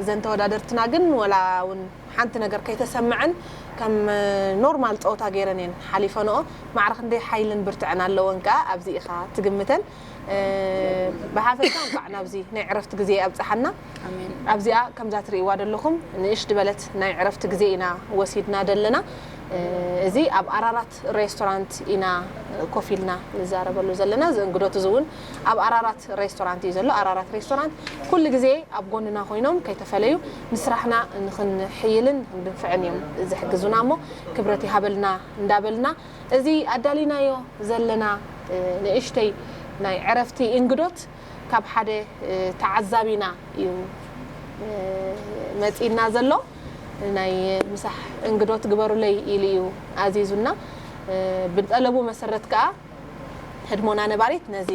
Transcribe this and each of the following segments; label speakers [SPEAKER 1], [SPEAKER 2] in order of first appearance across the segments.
[SPEAKER 1] እዘን ተወዳደርትና ግን ወላ ውን ሓንቲ ነገር ከይተሰመዐን ከም ኖርማል ጸወታ ጌረን እየን ሓሊፈንኦ ማዕረ ክንደይ ሓይልን ብርትዐን ኣለወን ከኣ ኣብዚ ኢኻ ትግምተን ብሓፈሻ እንቋዕ ናብዚ ናይ ዕረፍቲ ግዜ ኣብጽሓና ኣብዚኣ ከምዛ ትርእይዋ ደለኹም ንእሽ ድበለት ናይ ዕረፍቲ ግዜ ኢና ወሲድና ደለና እዚ ኣብ ኣራራት ኣራራት ሬስቶራንት ኢና ኮፍ ኢልና ንዛረበሉ ዘለና። እዚ እንግዶት እዚ እውን ኣብ ኣራራት ሬስቶራንት እዩ ዘሎ። ኣራራት ሬስቶራንት ኩሉ ግዜ ኣብ ጎንና ኮይኖም ከይተፈለዩ ንስራሕና ንክንሕይልን ንክንድንፍዕን እዮም ዝሕግዙና እሞ ክብረት ይሃበልና እንዳበልና እዚ ኣዳሊናዮ ዘለና ንእሽተይ ናይ ዕረፍቲ እንግዶት ካብ ሓደ ተዓዛቢና እዩ መጺእና ዘሎ ናይ ምሳሕ እንግዶት ግበሩለይ ኢሉ እዩ ኣዚዙና ብጠለቡ መሰረት ከኣ ህድሞና ነባሪት ነዚ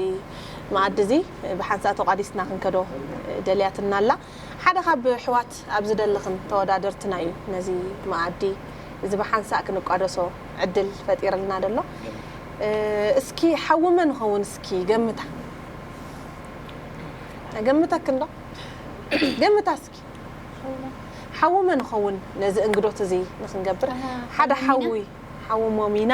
[SPEAKER 1] መኣዲ እዚ ብሓንሳእ ተቋዲስና ክንከዶ ደልያትና ኣላ ሓደ ካብ ኣሕዋት ኣብ ዝደለኽን ተወዳደርትና እዩ ነዚ መኣዲ እዚ ብሓንሳእ ክንቋደሶ ዕድል ፈጢርልና ደሎ እስኪ ሓዊ መን ይኸውን እስኪ ገምታ ገምተክ እንዶ ገምታ እስኪ ሓዊ መን ይኸውን ነዚ እንግዶት እዚ ንክንገብር ሓደ ሓዊ ሓዊ ሞሚና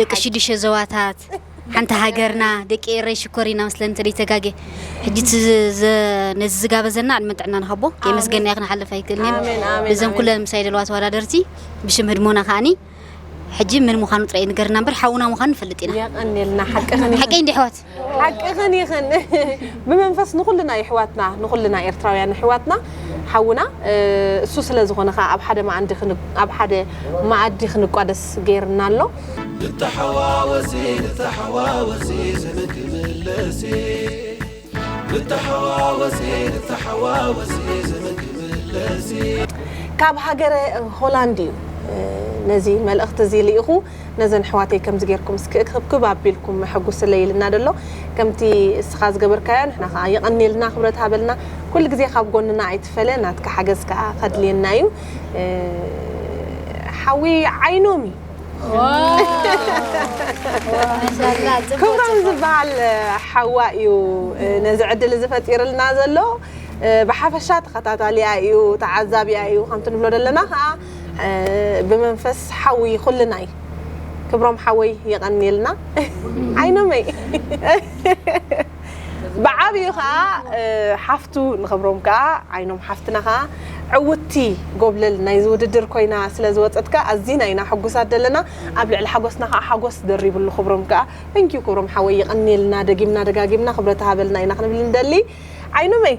[SPEAKER 2] ደቂ ሽዱሸ ዞባታት ሓንቲ ሃገርና ደቂ ኤረይ ሽኮር ኢና መስለኒ ተደይተጋጌ ሕጂ ነዚ ዝጋበዘና ዕድመን ጥዕና ንሃቦ ከየመስገንናዮ ክንሓልፍ ኣይክእልን እየ እዘን ኩለን ምሳይ ዘለዋ ተወዳደርቲ ብሽም ህድሞና ከዓኒ ሕጂ ምን ምዃኑ ጥራይ ንገርና እምበር ሓውና ምዃኑ ንፈልጥ ኢና የቀንየልና ሓቂ
[SPEAKER 1] ከመይ ሓቀይ እንዲ ኣሕዋት
[SPEAKER 2] ሓቅኽን ኢኽን
[SPEAKER 1] ብመንፈስ ንኹልና የሕዋትና ንኹልና ኤርትራውያን ኣሕዋትና ሓውና እሱ ስለ ዝኾነ ከኣ ኣብ ሓደ መኣንዲ ኣብ ሓደ መኣዲ ክንቋደስ ጌርና ኣሎ። ንተሓዋወሲ
[SPEAKER 3] ንተሓዋወሲ ስሚ ክምለሲ ንተሓዋወሲ ንተሓዋወሲ ስሚ ክምለሲ። ካብ
[SPEAKER 1] ሃገረ ሆላንድ እዩ ነዚ መልእኽቲ እዚ ልኢኹ። ነዘን ኣሕዋተይ ከምዚ ጌርኩም እስኪ እክብክብ ኣቢልኩም መሐጉስለይ ኢልና ዶ ኣሎ ከምቲ እስኻ ዝገበርካዮ ንሕና ከኣ የቀንየልና ክብረት ሃበልና ኩሉ ግዜ ካብ ጎንና ኣይትፈለ ናትካ ሓገዝ ከኣ ከድልየና እዩ ሓዊ ዓይኖም እዩ
[SPEAKER 4] ክብሮም ዝበሃል
[SPEAKER 1] ሓዋ እዩ ነዚ ዕድል እዚ ፈጢርልና ዘሎ ብሓፈሻ ተኸታታሊኣ እዩ ተዓዛቢኣ እዩ ከምቲ ንብሎ ዘለና ከኣ ብመንፈስ ሓዊ ኩልናይ ክብሮም ሓወይ የቐንየልና ዓይኖመይ ብዓብዩ ከዓ ሓፍቱ ንክብሮም ከዓ ዓይኖም ሓፍትና ከዓ ዕውቲ ጎብለል ናይዚ ውድድር ኮይና ስለ ዝወፀት ከዓ ኣዚና ኢና ሕጉሳት ዘለና ኣብ ልዕሊ ሓጎስና ከዓ ሓጎስ ደሪብሉ ክብሮም ከዓ ተንኪዩ ክብሮም ሓወይ የቐንየልና ደጊምና ደጋጊምና ክብረት ሃበልና ኢና ክንብል ንደሊ ዓይኖመይ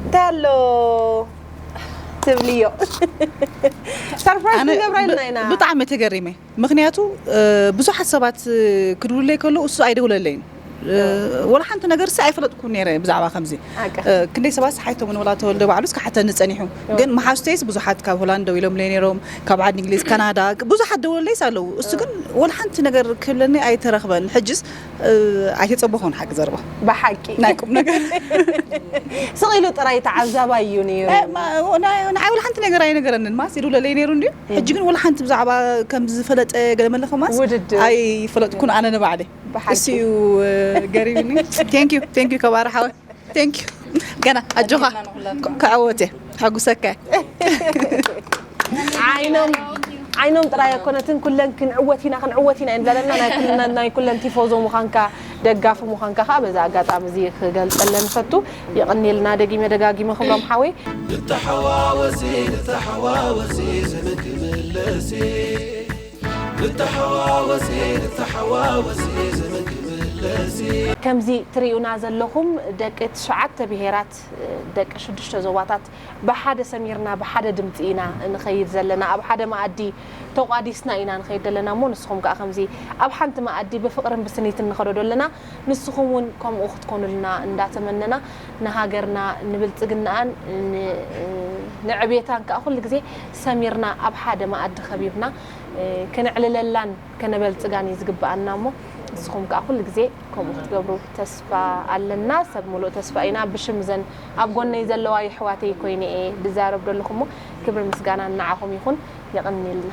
[SPEAKER 1] እንታይ ኣሎ ትብልዮ ሰርፕራይዝ ኣነ ክንገብራ ኢልና ኢና ብ- ብጣዕሚ ተገሪመ
[SPEAKER 5] ምክንያቱ እ፣ ብዙሓት ሰባት እ፣ ክድውሉለይ ከሎ እሱ ኣይደውለለይን እ፣ ወላ ሓንቲ ነገር ሲ ኣይፈለጥኩን ነይረ ብዛዕባ ከምዚ ሓቂ። እ፣ ክንደይ ሰባት ሓይቶምን ወላ ተወልደ ባዕሉ እስከ ሓተኒ ጸኒሑ ግን መሓዝተይስ ብዙሓት ካብ ሆላንድ ደው ኢሎምለይ ነይሮም ካብ ዓዲ እንግሊዝ ካናዳ ብዙሓት ደውለለይስ ኣለዉ እሱ ግን ወላ ሓንቲ ነገር ክብለኒ ኣይተረኽበን ሕጅስ ኣይተጸበኹን ሓቂ ዘረባ ብሓቂ ናይ ቁም ነገር
[SPEAKER 1] ስቕ ኢሉ ጥራይ ተዓዛባይ እዩ ነይሩ ንዓይ
[SPEAKER 5] ወላ ሓንቲ ነገር ኣይነገረንን ማስ ይድውለለይ ነይሩ እንድዩ ሕጂ ግን ወላ ሓንቲ ብዛዕባ ከም ዝፈለጠ ገለ መለኸ ማስ ውድድር። ኣይፈለጥኩን ኣነ ንባዕለይ ብሓቂ። እሱ እዩ ገሪብኒ ቴንክ ዩ ቴንክ ዩ ከባሪ ሓወ ቴንክ ዩ ገና ኣጆኻ ክዕወት እየ ሕጉሰካ ዓይኖም
[SPEAKER 1] ዓይኖም ጥራይ ኣኮነትን ኩለን ክንዕወት ኢና ክንዕወት ኢና እየን ዝብላለና ናይ ኩለን- ናይ ኩለን ቲፎዞ ምዃንካ ደጋፊ ምዃንካ ከዓ በዚ ኣጋጣሚ እዚ ክገልፀለን ይፈቱ የቐኒልና ደጊመ ደጋጊመ ክብሎም ሓወይ ንተሓዋወሲ
[SPEAKER 3] ንተሓዋወሲ ዝንክምለሲ ንተሓዋወሲ ንተሓዋወሲ ዝምግብለሲ። ከምዚ ትሪኡና
[SPEAKER 1] ዘለኹም ደቂ ትሽዓተ ብሄራት ደቂ ሽዱሽተ ዞባታት ብሓደ ሰሚርና ብሓደ ድምፂ ኢና ንኸይድ ዘለና ኣብ ሓደ መኣዲ ተቋዲስና ኢና ንኸይድ ዘለና እሞ ንስኹም ከዓ ከምዚ ኣብ ሓንቲ መኣዲ ብፍቕርን ብስኒትን ንኸዶ ዶ ኣለና ንስኹም ውን ከምኡ ክትኮኑልና እንዳተመነና ንሃገርና ንብልጽግናኣን ንዕብየታን ከኣ ኩሉ ግዜ ሰሚርና ኣብ ሓደ መኣዲ ከቢብና ክነዕልለላን ከነበልጽጋን እዩ ዝግበኣና እሞ ንስኹም ከኣ ኩሉ ግዜ ከምኡ ክትገብሩ ተስፋ ኣለና ሰብ ምሉእ ተስፋ ኢና ብሽም ዘን ኣብ ጎነይ ዘለዋ የሕዋተይ ኮይነ እየ ድዛረብ ደለኹ እሞ ክብሪ ምስጋና ንዓኹም ይኹን የቕንየልና።